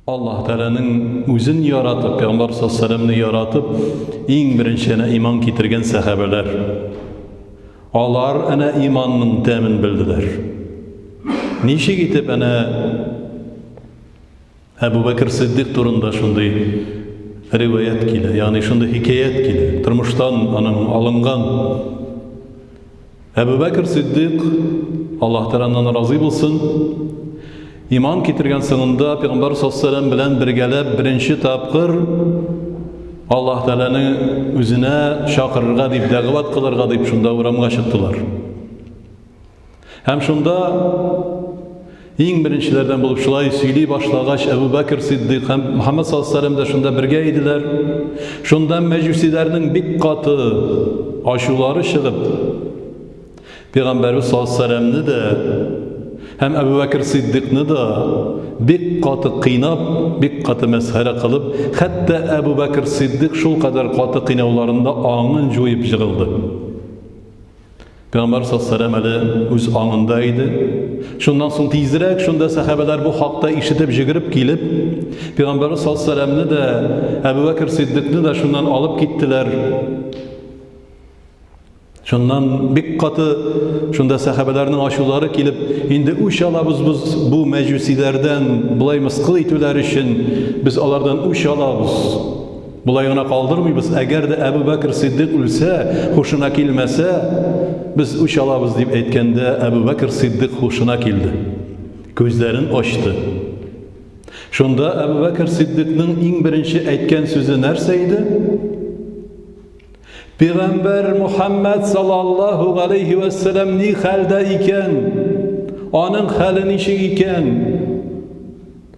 Аллаһ Тәгаләнең үзен яратып, Пәйгамбер саллаллаху яратып, иң беренче әнә иман китергән сәхабәләр. Алар әнә иманның тәмен белделәр. Ничек итеп әнә Әбу Бәкер Сиддик турында шундый риваят килә, ягъни шундый хикәят килә. Тормыштан аның алынган Әбу Бәкер Сиддыйк, Аллаһ Тәгалә аннан разый булсын, иман китергән соңында Пәйгамбәр саллаллаху белән бергәләп беренче тапкыр Аллаһ Тәгаләне үзенә чакырырга дип дәгъват кылырга дип шунда урамга чыктылар. Һәм шунда Иң беренчеләрдән булып шулай сөйли башлагач, Әбу Бәкер Сиддыйк һәм Мөхәммәд саллаллаһу алейһи вәсәлләм дә шунда бергә иделәр. Шунда мәҗүсиләрнең бик каты ачулары чыгып, Пәйгамбәрбез саллаллаһу алейһи вәсәлләмне дә һәм Әбу Бәкер Сиддыйкны да бик каты кыйнап, бик каты мәсхәрә кылып, хәтта Әбу Бәкер Сиддыйк шулкадәр каты кыйнауларында аңын җуеп җыгылды. Пәйгамбәр сәлләм әле үз аңында иде. Шуннан соң тизрәк шунда сәхәбәләр бу хакта ишетеп җигереп килеп, Пәйгамбәр сәлләмне дә, Әбу Бәкер Сиддикны да шуннан алып киттеләр. Шуннан бик каты шунда сәхәбәләрнең ачулары килеп, инде үч алабыз без бу мәҗүсиләрдән, болай мыскыл итүләр өчен без алардан үч алабыз. Болай гына калдырмыйбыз, әгәр дә Әбү Бәкер Сыйддыйк үлсә, һушына килмәсә, без үч алабыз, дип әйткәндә, Әбү Бәкер Сыйддыйк һушына килде. Күзләрен ачты. Шунда Әбү Бәкер Сыйддыйкның иң беренче әйткән сүзе нәрсә иде? Пигамбәр Мухаммад саллаллаһу галейхи ва саллям ни хәлдә икән? Аның хәле ничек икән?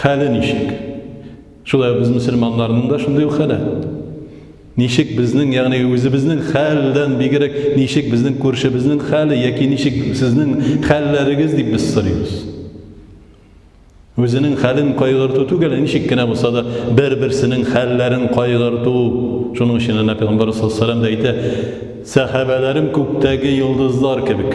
Хәле ничек? Шулай без мөселманнарның да шундый ук хәле. Ничек безнең, ягъни үзебезнең хәлдән бигрәк, ничек безнең күршебезнең хәле яки ничек сезнең хәлләрегез дип без сорыйбыз. Үзенең хәлен кайгырту түгел, ничек кенә булса да бер-берсенең хәлләрен кайгырту. Шуның өчен Әнә Пәйгамбәр саллаллаһу әйтә, сәхабәләрем күктәге йолдызлар кебек.